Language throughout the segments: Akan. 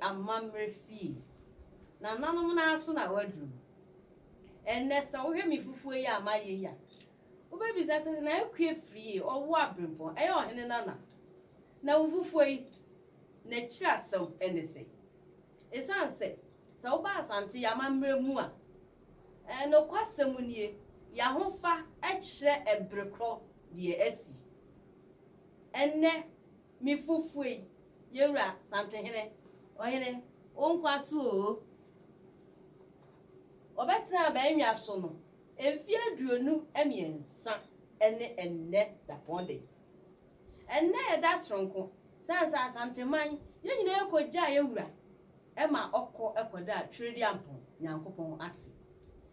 amammerɛ fie nananom no ara so na waduru ɛnɛ sɛ wohwɛ me fufuo yi a mayɛ yi a wobɛbisa sɛ na akue firie ɔwo aberempɔn ɛyɛ ɔhene nana na wo fufuo yi n'akyiri asɛm ɛne sɛ Esiane sɛ, sɛ woba Asante amammerɛ mu a, nokwasɛm nie, y'ahofa kyerɛ ɛbere korɔ deɛ asi. Ɛnnɛ, me fufue, Yewura Santehene, Ɔhene, wo nkwa so oo. Wɔbɛtena abannwa so no mfeɛ aduonu mmiɛnsa ne ɛnnɛ dapɔn de. Ɛnnɛ yɛda soronko, sɛ ansa Asanteman, yɛn nyinaa yɛkɔgyaa yɛn wura ma ɔkɔ kɔdaa Twereduampɔn Nyankopɔn ase.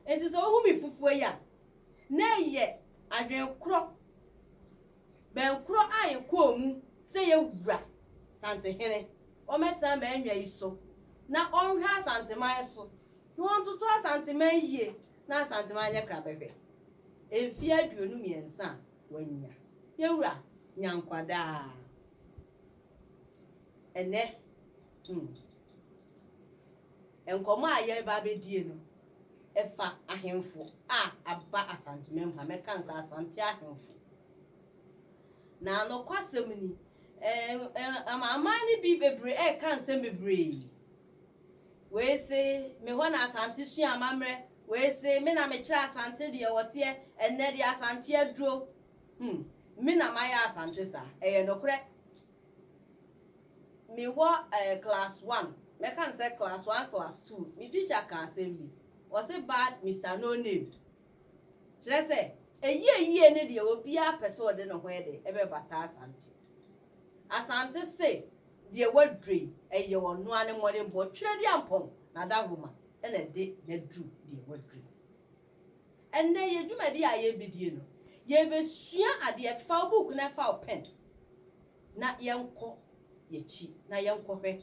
Enti sɛ wohu me fufuo yi a, na ɛyɛ adwene korɔ, bɛn korɔ a yɛkɔɔ mu sɛ yɛn wura, Santehene, ɔmmɛtena m'annwa yi so na ɔnhwɛ Asanteman so, na ɔntoto Asanteman yie na Asanteman anyɛ krabɛhwɛ. Mfeɛ aduonu mmiɛnsa a. Wanya yɛn Wura nya nkwa daa. Ɛnɛ hmm nkɔmɔ a yɛreba abɛdie no ɛfa ahemfo a aba Asantemam ha, mɛka no saa, Asante ahemfo. Na nokwasɛm ni, amanaman no bi bebree ɛreka nsɛm bebree. Wei se me hɔ na Asante sua amammerɛ, Wei se me na mekyerɛ Asante deɛ wɔteɛ ɛnnɛ deɛ Asante aduro hmm me na mayɛ Asante saa ɛyɛ nokorɛ me wɔ eh class one mɛka no sɛ class one class two me teacher ka asɛm bi ɔse bad Mister no name kyerɛ sɛ ɛyie yie ne deɛ obiara pɛ sɛ ɔde ne ho ɛde ɛbɛbata Asante Asante se deɛ waduro yi ɛyɛ ɔnoa ne mmɔdenbɔ twerɛ di ampɔn na dahoma na ɛde yɛn aduru deɛ waduru yi. Ɛnnɛ yɛn dwumadie a yɛrebɛdie no, yɛrebɛsua adeɛ fa wo book na fa wo pen na yɛnkɔ yɛakyi na yɛnkɔhwɛ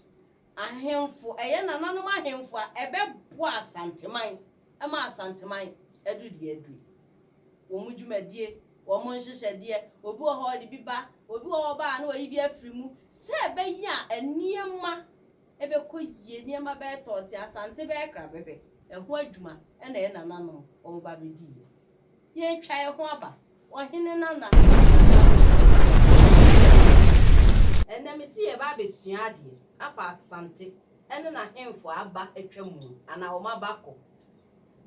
ahemfo, ɛyɛ nananom ahemfo a ɛbɛboa Asanteman ma Asanteman aduru deɛ aduru yi. Wɔn dwumadie, wɔn nhyehyɛdeɛ, obi wɔ hɔ ɔde bi ba, obi wɔ hɔ ɔba a na wayi bi afiri mu sɛ ɛbɛyɛ a nneɛma ɛbɛkɔ yie, nneɛma bɛyɛ tɔɔte, Asante bɛyɛ krabɛbɛ, ɛho adwuma na yɛn nananom wɔba abɛdiiɛ. Yɛretwa yɛn ho aba, Ɔhene Nana Addo Dankwa. Ɛnnɛ mese yɛreba abɛsua adeɛ afa Asante ne n'ahemfo a aba atwa mu anaa wɔn aba akɔ.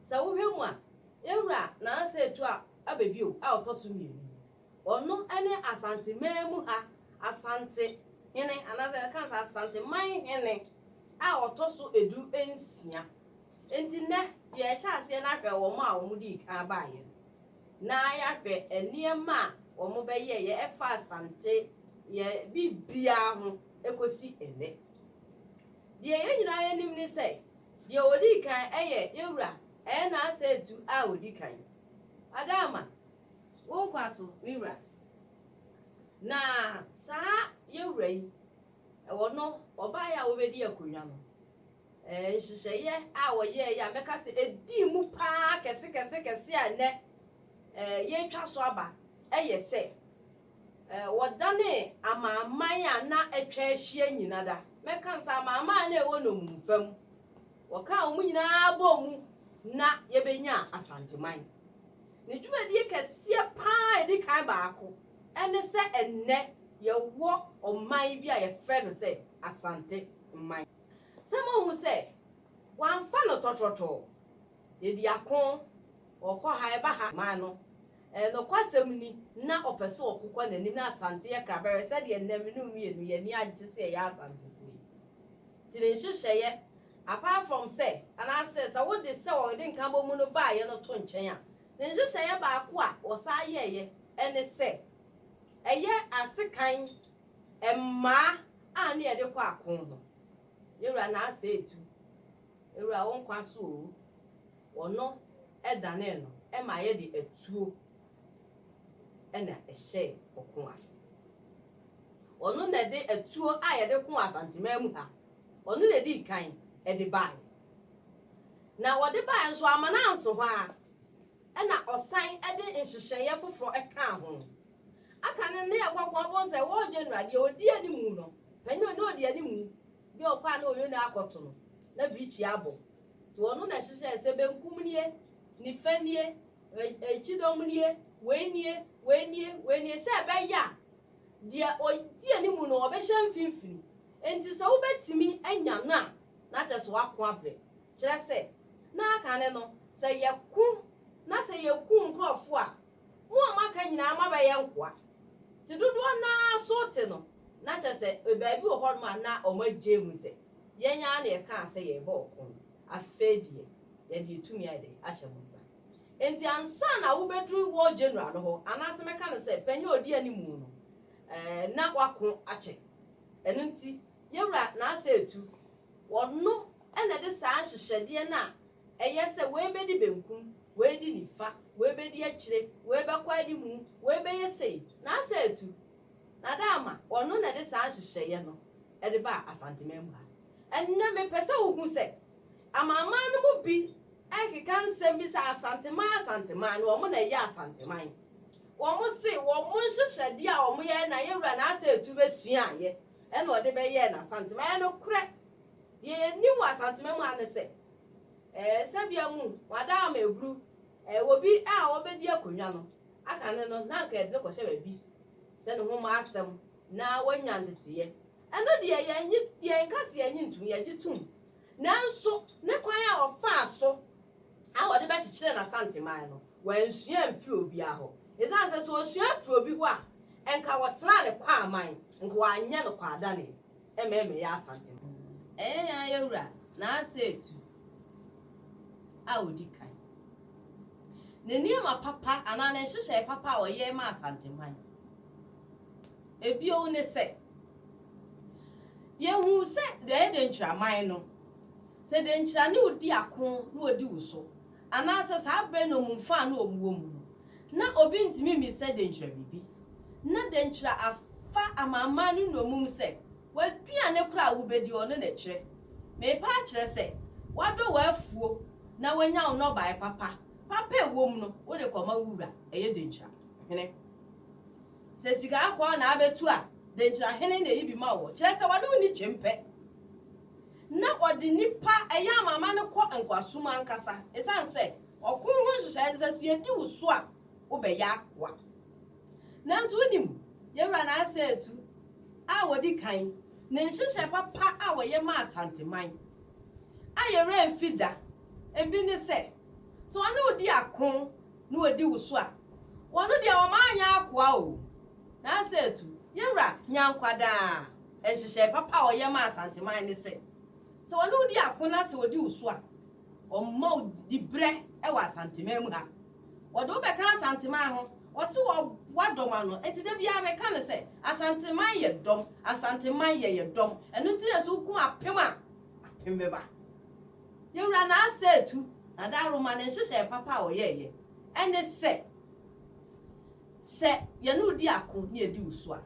Sɛ wohwɛ mu a, yɛn Wura Nana Sɛ Atua Abɛbio a ɔtɔ so mmienu yi, Ɔno ne Asanteman mu ha Asante hene anaasɛ yɛka sɛ Asanteman hene a ɔtɔ so du nsia. Nti nnɛ yɛrehyɛ aseɛ no ahwɛ wɔn a wɔdii kan baeɛ no na yɛahwɛ nneɛma a wɔbɛyɛeɛ ɛfa Asante yɛ biribiara ho kɔsi nnɛ. Deɛ yɛn nyinaa yɛnim ne sɛ deɛ ɔdii kan yɛ yɛwura Ɛɛna Asɛ Atu a ɔdi kan. Adaama, Wo nkwa so, me wura. Na saa yɛn wura yi, ɛwɔ no ɔbaeɛ a ɔbɛdi akonnwa no, ɛɛ nhyehyɛeɛ a ɔyɛeɛ a mɛka sɛ ɛdii mu pa ara kɛse kɛse kɛse a nnɛ ɛɛ yɛretwa so aba yɛ sɛ, ɛɛ wɔdanee amanaman a na atwa ahyia nyina da, mɛka no saa, amanaman a na ɛwɔ nnommumfa mu, Wɔkaa wɔn nyinaa bɔɔ mu na yɛbɛnyaa Asanteman. Ne dwumadie kɛseɛ pa ara a ɛdi kan baako ne sɛ ɛnnɛ yɛwɔ ɔman bi a yɛfrɛ no sɛ Asante man. Sɛ moahu sɛ wɔamfa no tɔtrɔtɔɔ, yɛdi ako, wɔkɔ ha, yɛba ha, man no. Ɛɛ, nokwasɛm ni, na ɔpɛ sɛ ɔkokɔ n'anim. Ná Asante yɛ Kraberɛ sɛdeɛ nnɛ me ne wo mmienu yɛn ani agye sɛ yɛyɛ Asantefoɔ yi. Nti ne nhyehyɛeɛ, apart from sɛ, anaasɛ sɛ wode sɛ wɔde nkabɔmu no baeɛ no to nkyɛn a, ne nhyehyɛeɛ baako a wɔsan yɛeɛ ne sɛ ɛyɛ asekan mmaa a na yɛde kɔ ako no. Yɛn wura na asɛ etu. Yɛn wura wo nkwa so oo. Ɔno danee no ma ayɛ de atuo na ɛhyɛɛ ɔko ase. Ɔno na ɛde atuo a yɛde koo Asanteman mu ha, ɔno na ɛdii kan de baeɛ. Na ɔde baeɛ nso amma no anso hɔ ara, ɛna ɔsan de nhyehyɛeɛ foforɔ kaa ho. Aka no ne yɛkɔboa bohu sɛ War General deɛ ɔdi animu no, panin a na ɔdi animu, deɛ ɔkɔ a na ɔyɔni akɔto no, na Beaky abɔ. Wɔno na ɛhyehyɛɛ sɛ benkum nie, nifa nie, kyidɔm nie, wei nie, wei nie, wei nie, sɛ ɛbɛyɛ a deɛ ɔdi anim no ɔbɛhyɛ mfimfini. Enti sɛ wobɛtumi anya no a, na kyerɛ sɛ woako abrɛ. Kyerɛ sɛ, na kane no, sɛ yɛko na sɛ yɛku nkurɔfoɔ a, mo a moaka nyinaa moabɛyɛ nkoa. Nti dodoɔ no ara so te no, na kyerɛ sɛ baabi wɔ hɔnom a na wɔagye ahu sɛ. Yɛn ara na yɛkaa sɛ yɛrebɔ ɔko no, afei deɛ, yɛde yɛn tumi ayɛ dɛn? ahyɛ mo nsa. Enti ansa na wobɛduru War General no hɔ, anaasɛ mɛka no sɛ panin a ɔdi anim no, ɛɛ, na wɔako akyɛ. Ɛno nti, yɛn wura n'asɛetu, ɔno na ɛde saa nhyehyɛdeɛ no a ɛyɛ sɛ wei bɛdi benkum, wei adi nifa, wei bɛdi akyire, wei bɛkɔ anim, wei bɛyɛ sei, n'asɛetu, Na Adama, ɔno na ɛde saa nhyehyɛeɛ no de baa Asanteman mu ha. Ɛnnɛ mepɛ sɛ wohu sɛ Amanaman no mu bi rekeka nsɛm bi sɛ Asanteman Asanteman no wɔn na ɛyɛ Asanteman. Wɔn se wɔn nhyehyɛdeɛ a wɔn yɛɛ na yɛwura Naasɛ Etuwe suaeɛ ɛna ɔde bɛyɛɛ no Asanteman. Ɛyɛ nokorɛ. Deɛ yɛnim wɔ Asanteman mu ha ne sɛ ɛɛ sɛbea mu wɔn Adama Eburu ɛɛ obi a ɔbɛdi akonnwa no Aka no no, na anka yɛde no kɔhyɛ baabi sɛ ne ho mmɔ asɛm na wanya nteteeɛ. Ɛno deɛ, yɛnnye, yɛnka sɛ yɛnnye ntom, yɛgye tom. Nanso, ne kwan a ɔfaa so a ɔde bɛkyekyerɛɛ n'Asanteman no, wansua amfiri obiara hɔ. Ɛsiane sɛ sɛ ɔsua firi obi hɔ a, anka ɔtenaa ne kwaman, anka wanyɛ no kwaadaneɛ. Ɛmɛɛ me yɛ Asante no. Ɛyɛ yan yɛ wura na asɛ etu a odi kan. Ne nneɛma papa anaa ne nhyehyɛe papa a ɔyɛe maa Asanteman. Ebio ne sɛ, Yehu sɛ deɛ ɛyɛ denkyiraman no, sɛ denkyira ne wo di ako na ɔdi wo so Anaasɛ saa bere no mu mfaa no a wɔwɔ mu no, na obi ntumi mmisa denkyira biribi. Ná denkyira afa amanaman no nnommum sɛ, W'aduane koro a wubedi hɔ no na ɛkyerɛ. Merepɛ akyerɛ sɛ, wɔadɔ w'afuo na wɔanya wo nnɔbae papa, papa a ɛwɔ mu no, wode kɔma wo wura, ɛyɛ denkyira hene. Sɛ sika akoa na abetu a, denkyira hene na eyi bi ma wo. Kyerɛ sɛ, wɔne wo nni kyempɛ. na ɔde nnipa a ɛyɛ amanaman no kɔ nkoasom ankasa, esiane sɛ ɔko ho nhyehyɛe ne sɛ, sɛ yedi wo so a, wobɛyɛ akoa. Nanso wunim, yɛn wura Nasa Etu a odi kan, ne nhyehyɛe papa a ɔyɛ maa Asanteman a yɛn werɛ mfi da, ebi ne sɛ, sɛ ɔne wo di ako na odi wo so a, ɔno deɛ ɔma anyɛ akoa o. Nasa Etu, yɛn wura, nya nkwa daa. Nhyehyɛe papa a wɔyɛ maa Asanteman ne sɛ, sɛ wɔne wo di ako na sɛ wɔdi wo so a, wɔmma wo dibrɛ wɔ Asanteman mu ha. Wɔde wo bɛka Asanteman ho, wɔse wɔboa dɔm ano. Enti da biara meka no sɛ, Asanteman yɛ dɔm, Asanteman yɛyɛ dɔm. Ɛno nti na sɛ wokum apem a, apem bɛba. Yɛwura Naase Atu, Nada Aroma ne nhyehyɛe papa a ɔyɛeɛ ne sɛ, Sɛ yɛne wo di ako na yɛadi wo so a,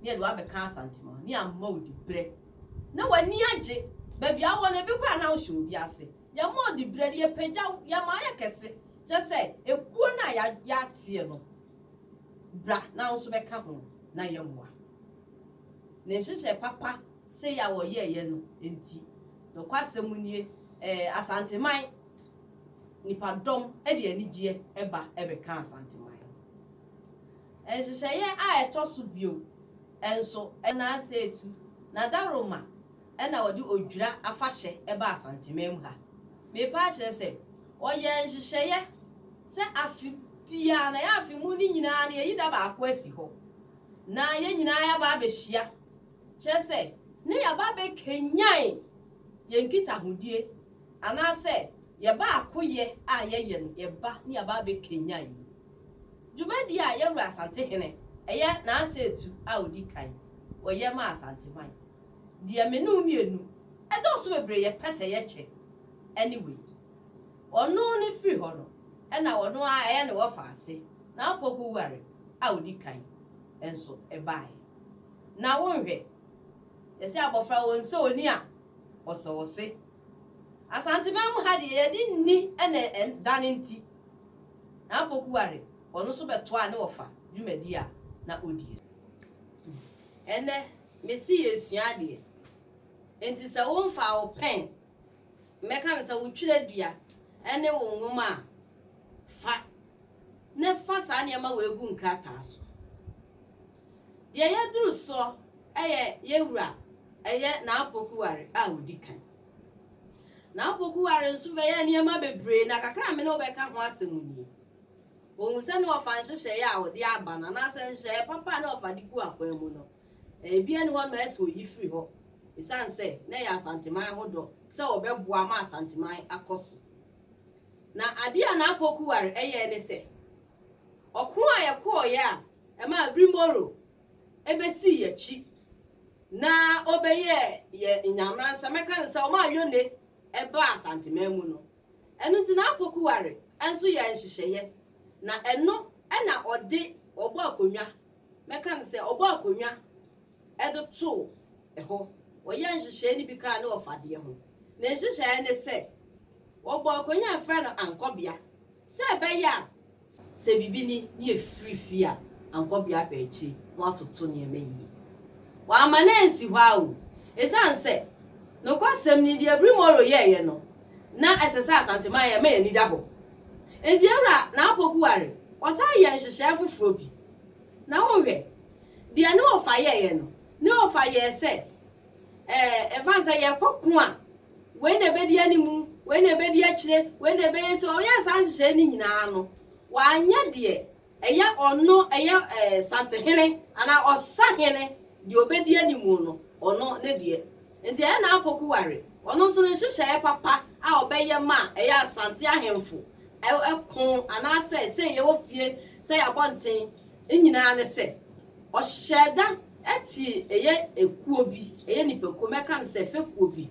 na yɛde wo abɛka asantem hɔ, na yɛama wo diberɛ, na w'ani agye. Baabi a wowɔ no, ebi koraa na wonhyɛ obi ase. Yɛma wo diberɛ no, yɛpagya wo, yɛma woyɛ kɛse, kyerɛ sɛ, ekuo no a yɛateɛ no, bra na wo nso bɛka ho, na yɛmmoa. Ne nhyehyɛe papa sei a wɔyɛeɛ no nti, nokwasɛm nie, ɛɛ, Asanteman. nnipadɔm de anigyeɛ ba bɛka Asanteman. Nhyehyɛeɛ a ɛtɔ so bio nso na Aseetu na Daroma na wɔde Odwira afahyɛ ba Asanteman mu ha. Merepɛ akyerɛ sɛ wɔyɛɛ nhyehyɛeɛ sɛ afe biara na yɛn afe mu no nyinaa no yɛyi da baako asi hɔ na yɛn nyinaa yɛaba abɛhyia, kyerɛ sɛ na yɛaba abɛkanyan yɛn nkitahodie Anaasɛ yɛ baakoyɛ a yɛyɛ no yɛ ba ne aba abɛkanyan yi. Dwumadie a Yawura Asantehene ɛyɛ n'asɛtu a ɔdi kan wɔ yɛ ma Asanteman deɛ me ne wo mmienu ɛdɔɔso bebree yɛ pɛ sɛ yɛ kyɛ ɛne wei. Ɔno ne firi hɔ no ɛna ɔno ara ɛyɛ ne wɔfa ase na Apoku ware a ɔdi kan nso ɛbaaɛ. Na wo nhwɛ yɛse abɔfra ɔnsɛ ɔni a. Ɔsɔɔ se, Asanteman mu ha deɛ yɛde nni na ɛdane nti, N'Apokuare, ɔno nso bɛtoaa ne wɔfa dwumadie a na ɔdie no. Ɛnnɛ, mese yɛresua adeɛ, enti sɛ womfaa wo pɛn, mɛka no sɛ wo twerɛdua ne wo nwoma a, fa na fa saa nneɛma wei gu nkrataa so. Deɛ yɛduru soɔ yɛ yɛn wura ɛyɛ n'apokuware a ɔdi kan. N'apokuware nso bɛyɛ nneɛma bebree na kakra a me ne wo bɛka ho asɛm nie. Ɔhu sɛ na ɔfa nhyehyɛeɛ a ɔde aba no anaasɛ nhyehyɛeɛ papa a na ɔfa de gu akwan mu no, ebi nni hɔ no ma ɛsɛ ɔyi firi hɔ ɛsiane sɛ na ɛyɛ Asanteman ho dɔ sɛ ɔbɛboa ma Asanteman akɔ so. Na adeɛ a n'apokuware yɛɛ ne sɛ, Ɔko a yɛkɔeɛ a ɛmaa Brimoro bɛsii yɛn akyi na ɔbɛyɛɛ yɛn Nyameransa, mɛka no sɛ ɔmaa Yone baa Asanteman mu no, ɛno nti na Apokuware nso yɛɛ nhyehyɛeɛ na ɛno na ɔde ɔbɔɔ akonnwa, mɛka no sɛ ɔbɔɔ akonnwa, de too hɔ. Wɔyɛɛ nhyehyɛe no bi kaa ne ɔfadeɛ ho. Ne nhyehyɛe ne sɛ, wɔbɔɔ akonnwa a wɔfrɛ no ankɔbea sɛ ɛbɛyɛ a, sɛ biribi ni na yɛfiri fie a, ankɔbea kɔ akyiri na wɔatoto nneɛma yie. Wɔamma no ansi hɔ ara o, esiane sɛ, nokwasɛm ni, deɛ Bri Morrow yɛeɛ no, na ɛsɛ sɛ Asanteman yɛ ma yɛn ani da hɔ. Enti Ewura Naapoku Ware, wɔsan yɛɛ nhyehyɛe foforɔ bi. Na wonhwɛ, Deɛ ne wɔfa yɛeɛ no, ne wɔfa yɛɛ sɛ, ɛɛ, ɛfane sɛ yɛkɔ ko a, wei na ɛbɛdi animu, wei na ɛbɛdi akyire, wei na ɛbɛyɛ sei, wɔyɛɛ saa nhyehyɛeɛ no nyinaa no, wɔanyɛ deɛ ɛyɛ ɔno, ɛyɛ, ɛɛ, santehene anaa ɔsahene, deɛ ɔbɛdi animu no, ɔno ne deɛ. Nti ɛyɛ n'apoku ware, ɔno nso ne nhyehyɛeɛ papa a ɔbɛyɛ ma a ɛyɛ Asante ahemfo, ɛ, ɛ, ko, anaasɛ sei yɛwɔ fie sɛ yɛabɔ nten, Ne nyinaa ne sɛ, ɔhyɛɛ da tee ɛyɛ ekuo bi, ɛyɛ nnipakuo, mɛka no sɛ fekuo bi,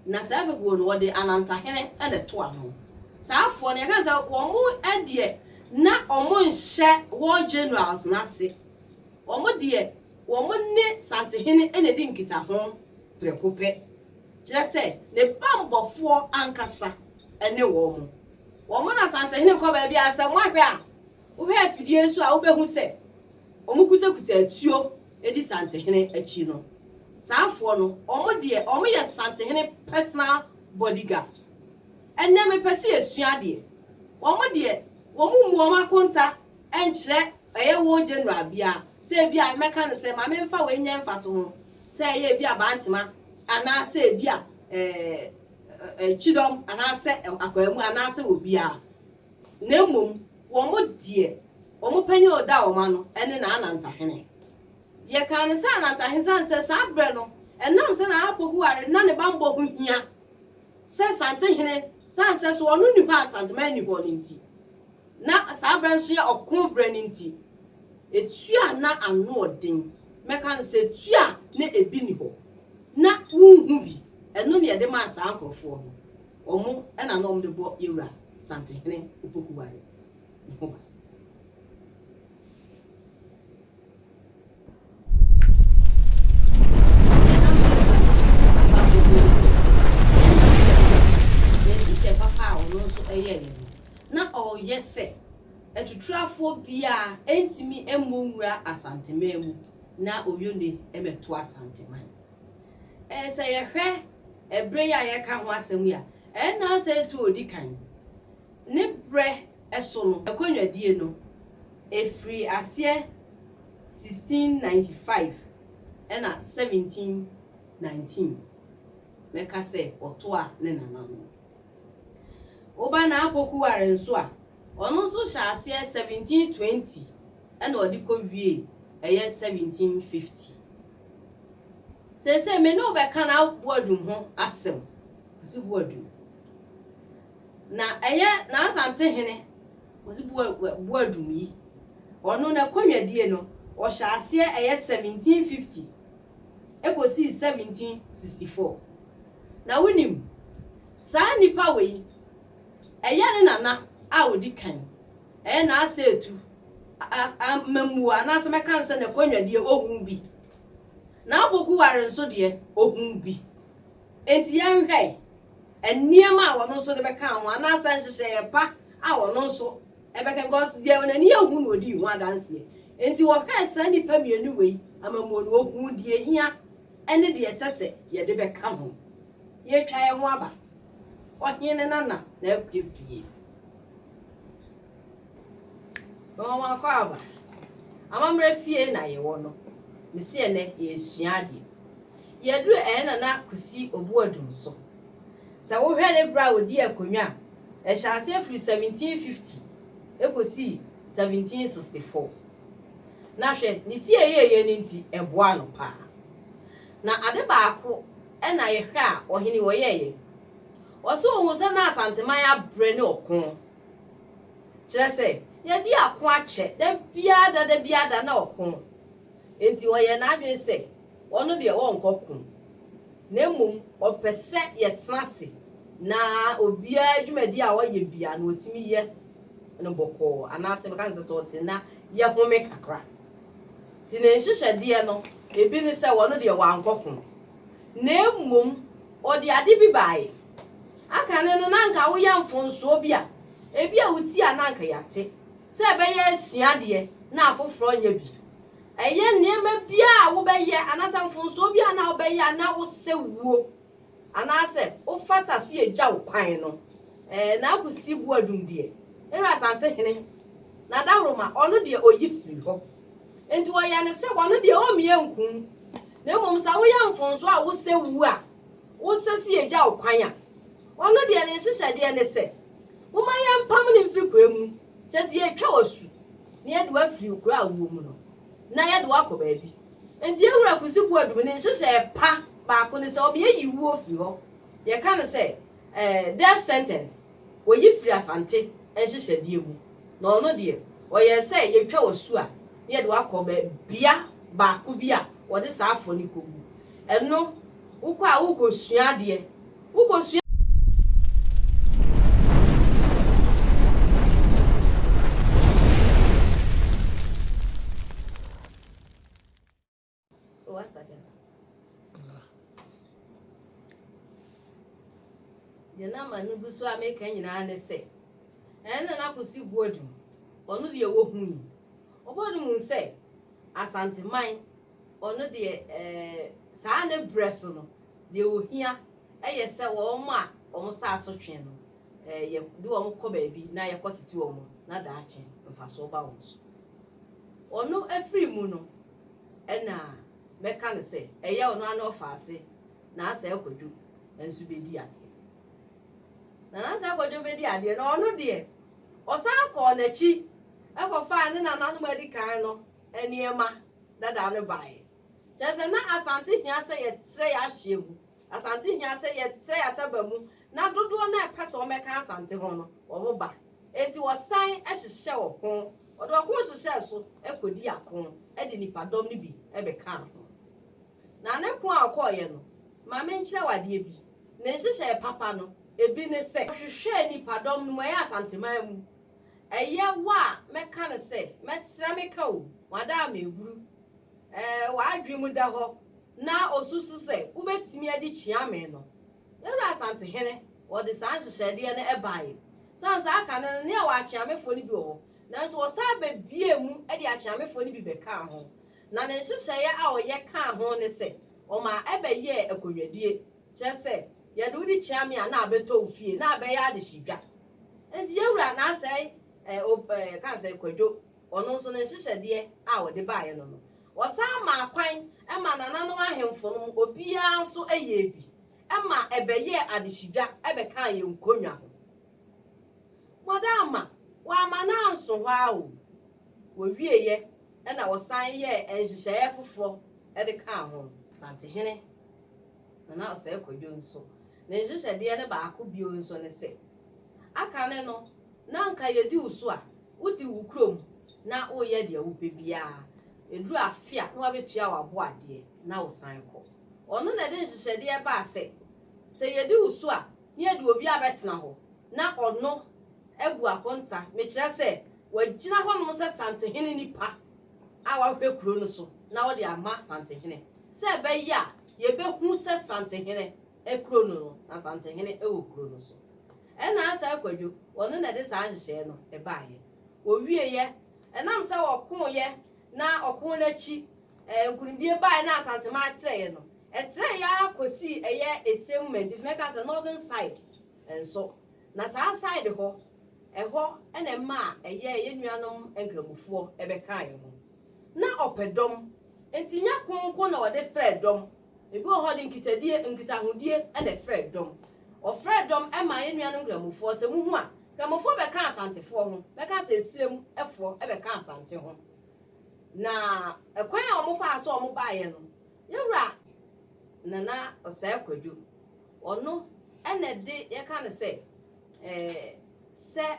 na saa fekuo no, wɔde anantahene na ɛto ano. Saa afoɔ no, yɛka no sɛ wɔn deɛ na wɔnhyɛ war generals no ase. Wɔn deɛ, wɔn ne Santehene na ɛdi nkitaho prɛko pɛ. Kyerɛ sɛ, ne bammɔfoɔ ankasa ne wɔn. Wɔn na Santehene kɔ baabiara, sɛ moahwɛ a, Wohwɛ afidie nso a wobɛhu sɛ wɔkutakuta atuo di Santehene akyi no. Saa afoɔ no, wɔn deɛ wɔyɛ Santehene personal body guards. Ɛnnɛ mepɛ sɛ yɛsua adeɛ. Wɔn deɛ wɔn mmu wɔn akonta nkyerɛ ɛyɛ war general biara sɛ ebi a mɛka no sɛ ma memfa wei nyɛ mfatoho sɛ ɛyɛ ebi a Bantema anaasɛ ebi a ɛɛ kyidɔm anaasɛ akwaamu anaasɛ obiara. Na mmom wɔn deɛ, wɔn panin a ɔda wɔn ano ne n'anantahene. Yɛkaa no sɛ anantahene sane sɛ saa berɛ no, ɛnam sɛ Nana Poku-Ware na ne bammɔ ho hia sɛ Santehene sane sɛ so ɔno nni hɔ a Santeman nni hɔ no nti, na saa berɛ nso yɛ ɔko berɛ no nti, ɛtua na ano ɔden. Mɛka no sɛ tua na ɛbi nni hɔ. Na wonhu bi. Ɛno na yɛde maa saa nkorɔfoɔ no. Wɔn na na wɔde bɔ Yewura Santehene Opokuware no ho ban. ɔreyɛ sɛ atuturafoɔ biara ɛntumi mmɔ nwura Asanteman mu na Oyone mmɛto Asanteman. Sɛ yɛhwɛ bere yi a yɛreka ho asɛm yi a, ɛnna sɛ etu a odi kan ne berɛ so no akonnwadie no, ɛfirii aseɛ 1695 ɛnna 1719 mɛka sɛ wɔtoa ne nana no. Woba Naa Pokuware nso a, ɔno nso hyɛɛ aseɛ 1720 ɛnna ɔde kɔwiee ɛyɛ 1750. Seesei me ne wo bɛka n'aboadu ho asɛm, Osibuadu. Na ɛyɛ Nansante hene Osibuadum yi, ɔno n'akonwadie no ɔhyɛɛ aseɛ ɛyɛ 1750 ɛkɔsii 1764. Na wonim, saa nnipa wei, ɛyɛ ne nana a ɔdi kan Ɛyɛ na asɛ etu, a a mɛmua anaasɛ mɛka no sɛ n'akonnwa deɛ ɔhuu bi. N'aboku ware nso deɛ, ɔhuu bi. Enti yɛnhwɛe. Nneɛma a ɔno nso de bɛka ho anaasɛ nhyehyɛeɛ pa a ɔno nso ɛbɛka because deɛ n'ani ahu na ɔdii ho adanseɛ. Enti wɔhwɛɛ saa nnipa mmienu wei amammuo no, ɔhuu deɛ ɛhia ne deɛ ɛsɛ sɛ yɛde bɛka ho. Yɛatwa yɛn ho aba. Ɔhene Nana na akue fie. Wɔn akwaaba. Amammerɛ fie na yɛwɔ no. Me se ɛnnɛ yɛresua adeɛ. Yɛduru ɛyɛ Nana Kwesi Obuadum so. Sɛ wohwɛ ne berɛ a ɔdii akonnwa a, ɛhyɛɛ aseɛ firi 1750 kɔsii 1764. Na hwɛ, ne tieyɛeɛ no nti, ɛboaa no pa ara. Na ade baako na yɛhwɛ a ɔhene yi ɔyɛeɛ. Wɔse ohuu sɛ na Asanteman abrɛ ne ɔko. Kyerɛ sɛ, yɛadi ako akyɛ, da biara da, da biara da na ɔko. Enti ɔyɛɛ n'adwene sɛ ɔno deɛ ɔrenkɔ ko, na mmom ɔpɛ sɛ yɛtena ase na obiara dwumadi a ɔyɛ biara no ɔtumi yɛ no bɔkɔɔ anaasɛ bɛka ne sɛ tɔɔte na yɛhome kakra. Nti ne nhyehyɛdeɛ no, ebi ne sɛ ɔno deɛ wankɔ ko. Na mmom ɔde ade bi baeɛ. Aka no no, na anka woyɛ mfomsoɔ bi a, ebia wotie a na anka yɛate, sɛ ɛbɛyɛ asua adeɛ na afoforɔ nyɛ bi. Ɛyɛ nneɛma biara a wobɛyɛ anaasɛ mfomsoɔ biara na wobɛyɛ a na wosɛ wuo anaasɛ wofata sɛ yɛgya wo kwan no. Ɛɛ, na Akwasi Boadum deɛ, ɛyɛ Asantehene, na Dawuroma, ɔno deɛ ɔyi firi hɔ. Nti wɔyɛ no sɛ ɔno deɛ ɔremmie nkum. Na mmom sɛ woyɛ mfomso a wosɛ wu a, wosɛ sɛ yegya wo kwan a, ɔno deɛ ne nhyehyɛdeɛ ne sɛ, momma yɛmpam no mfiri kura mu, kyerɛ sɛ yɛretwa wo asu, na yɛde wo afiri wo kura a wowɔ mu no, na yɛde wo akɔ baabi. Enti yɛn wura Kusi Boadu ne nhyehyɛɛ pa baako ne sɛ ɔbɛyi wo afiri hɔ, yɛka no sɛ, eh, death sentence. Wɔyi firi Asante nhyehyɛdeɛ mu, na ɔno deɛ, ɔyɛɛ sɛ yɛtwa w'asu a na yɛde wo akɔ bɛ bea baako bi a wɔde saa afoɔ no kɔgu. Ɛno, wokɔ a worekɔsua adeɛ. Wokɔsua. Deɛ na ama no gu so a meka nyinaa ne sɛ ɛno na n'akosi boadu ɔno deɛ ɛwɔ hu yi ɔbɔ no mu sɛ asanteman ɔno deɛ ɛɛ saa ne brɛ so no deɛ ohia ɛyɛ sɛ wɔn a wɔn saa so twe no ɛɛ yɛ de wɔn kɔ baabi na yɛkɔ tete wɔn na daakye mfasoɔ ba wɔn so ɔno afiri mu no Ɛna mɛka no sɛ, Ɛyɛ ɔno ara na ɔfa ase, na Asae Kwadwo nso bɛdi adeɛ. Na na Asae Kwadwo bɛdi adeɛ no, ɔno deɛ, ɔsan kɔɔ n'akyi kɔfaa ne nananom a adi kan no nneɛma dada no baeɛ. Kyerɛ sɛ, na Asante hia sɛ yɛtrɛ yɛn ahyeɛ mu. Asante hia sɛ yɛsɛ yɛn ataba mu na dodoɔ no a ɛpɛ sɛ wɔbɛka Asante ho no, wɔba. Enti wɔsan hyehyɛ ɔko, wɔde ɔko hyehyɛɛ so kɔdii ako de nnipadɔm no bi bɛkaa ho. Na ne ko a ɔkɔeɛ no, ma menkyerɛ wo adeɛ bi, ne nhyehyɛeɛ papa no, ebi ne sɛ, ɔhwehwɛɛ nnipadɔm no mu, ɛyɛ Asanteman mu, ɛyɛ wo a mɛka no sɛ, mɛsrɛ meka o, wɔn ada a mehuru w'adwene mu da hɔ na osusu sɛ wobɛtumi adi kyea me no, Yɛwura Asantehene, wɔde saa nhyehyɛdeɛ no baeɛ. Sane saa kan no na yɛwɔ akyeamefoɔ no bi wɔ hɔ, nanso wɔsan bɛbuee mu de akyeamefoɔ no bi bɛkaa ho, na ne nhyehyɛeɛ a ɔyɛ kaa ho ne sɛ ɔmaa ɛbɛyɛɛ akonnwadie, kyerɛ sɛ, yɛde wo di kyea me a na abɛtɔ wo fie, na abɛyɛ adehyedwa. Enti Yɛwura, na asɛe, ɛ, o, ɛ, ka sɛ, Kwadwo. Ɔno nso, ne nhyehyɛdeɛ a ɔde baeɛ no no, ɔsan maa kwan ma nananom ahemfo no obiara nso yɛɛ bi ma ɛbɛyɛɛ adehyedwa bɛkaa yɛn nkonnwa ho. Wɔde ama, wɔamma no anso hɔ ara o, wɔwieeɛ na wɔsan yɛɛ nhyehyɛeɛ foforɔ de kaa ho. Asantehene Nana Osei Kwadwo nso, ne nhyehyɛdeɛ no baako bio nso ne sɛ, aka no no, na anka yɛdi wo so a, Wodi wo kurom na woyɛ deɛ wopɛ biara, ɛduru afe a na wabɛtua w'aboadeɛ na wosan kɔ. Ɔno na ɛde nhyehyɛdeɛ baa sɛ, sɛ yɛdi wo so a, na yɛde obi abɛtena hɔ na ɔno abu akonta, mekyerɛ sɛ, wagyina hɔnom sɛ Santehene nipa a wahwɛ kuro no so na ɔde ama Santehene sɛ ɛbɛyɛ a yɛbɛhu sɛ Santehene kuro no no, na Santehene wɔ kuro no so. Ɛna Asae Kwadwo, wɔno na ɛde saa nhyehyɛeɛ no baeɛ. Wɔwieeɛ, ɛnam sɛ wɔkooeɛ na ɔkoo no akyi nkunimdie baeɛ na Asanteman trɛeɛ no, ɛtrɛeɛ ara kɔsii ɛyɛ Esie moment, nti mɛka sɛ Northern side nso. Na saa side hɔ, ɛhɔ na ɛmaa ɛyɛ yɛn nuanom Nkramofoɔ bɛkaaeɛ ho. Na ɔpɛ dɔm, nti nyɛ ko nko na ɔde frɛɛ dɔm, Ebi wɔ hɔ de nkitadie, nkitahodie, na ɛfrɛɛ dɔm. Wɔfrɛɛ dɔm maa yɛn nuanom Nkramofoɔ. Sɛ mohu a, Nkramofoɔ bɛka Asantefoɔ ho, bɛka sɛ Esirem foɔ bɛka Asante ho. Na ɛkwan a wɔfaa so a wɔbaeɛ no, yɛn wura Nana Ɔsɛe Kwadwo, ɔno na ɛde, yɛka no sɛ, eh, sɛ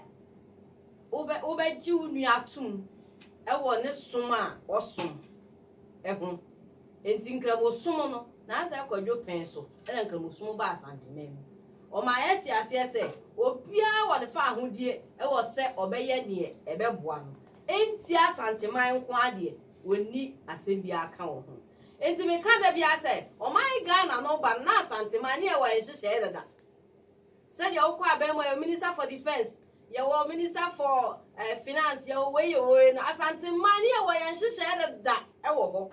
wobɛ, wobɛgye wo nua atom wɔ ne som a ɔsom. ho. Enti Nkramosom no, Nansah Kwadwo pɛn so na Nkramosom baa Asanteman mu. Ɔmaa yɛtee aseɛ sɛ obiara wɔ ne faahodie wɔ sɛ ɔbɛyɛ deɛ ɛbɛboa no. Enti Asanteman nko ara deɛ wɔnni asɛm biara ka wɔ ho. Enti meka da biara sɛ ɔman Ghana no reba no na Asanteman ne yɛwɔ nhyehyɛeɛ dada. Sɛdeɛ wokɔ abɛn mu a yɛwɔ minister for defence, yɛwɔ minister for eh, finance, yɛwɔ wei yɛwɔ wei no, Asanteman no yɛwɔ yɛn nhyehyɛɛ deda wɔ hɔ.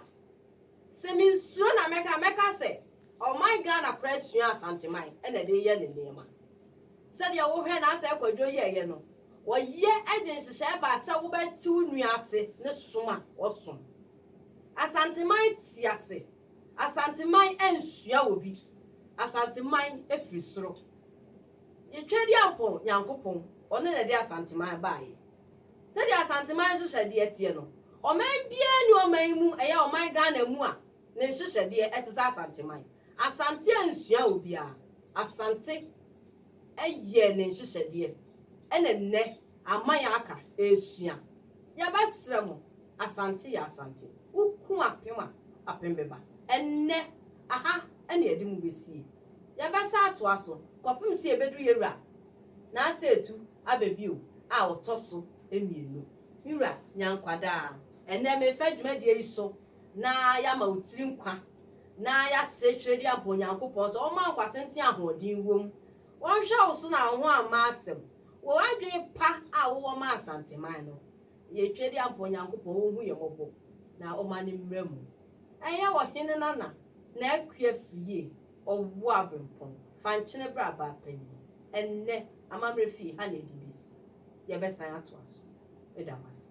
Sɛ mensuro na mɛka mɛka sɛ ɔman Ghana koraa sua Asanteman na ɛde yɛ ne nneɛma. Sɛdeɛ wohwɛ na asɛ kwadwo yɛɛyɛ no, wɔyɛ de nhyehyɛɛ baa sɛ wobɛte wo nua ase ne som a ɔsom. Asanteman te ase. Asanteman ansua wɔ bi. Asanteman firi soro. Yɛ Tweadiampɔn Nyankopɔn, ɔno na ɛde Asanteman baeɛ. Sɛdeɛ Asanteman nhyehyɛdeɛ teɛ no, ɔman biara nni ɔman yi mu, ɛyɛ ɔman Ghana mu a, ne nhyehyɛdeɛ te sɛ Asanteman. Asante ansua wɔ biara. Asante. yɛɛ ne nhyehyɛdeɛ ɛna nnɛ ama yɛ aka ɛresua yɛbɛsrɛ mo Asante yɛ Asante wo ko apem a apem bɛba ɛnnɛ aha ɛna yɛde mo bɛsie yɛbɛsan atoa so kɔpem sɛ yɛbɛduru yɛ wura Nansah Etu aba bio a ɔtɔ so mmienu me wura Nyankwadaa ɛnnɛ mefa dwumadie yi so. na yɛama wo tiri nkwa, na yɛasrɛ twerɛdie ampa Onyankopɔn sɛ ɔmma nkwatenten a ahoɔden wom, ɔnhwɛ wo so na wo ho amma asɛm, wɔ adwene pa a wowɔ ma Asanteman no, yɛ twerɛdie ampa Onyankopɔn ɔnhu yɛn mmɔbɔ na ɔmma no mmra mu. Ɛnyɛ ɔhene Nana na Akua firi yie, ɔwɔ aberempɔn, fa nkyene bra baa panyin, ɛnnɛ amammerɛ firi ha na ɛde bɛsi, yɛbɛsan atoa so. Meda mo ase.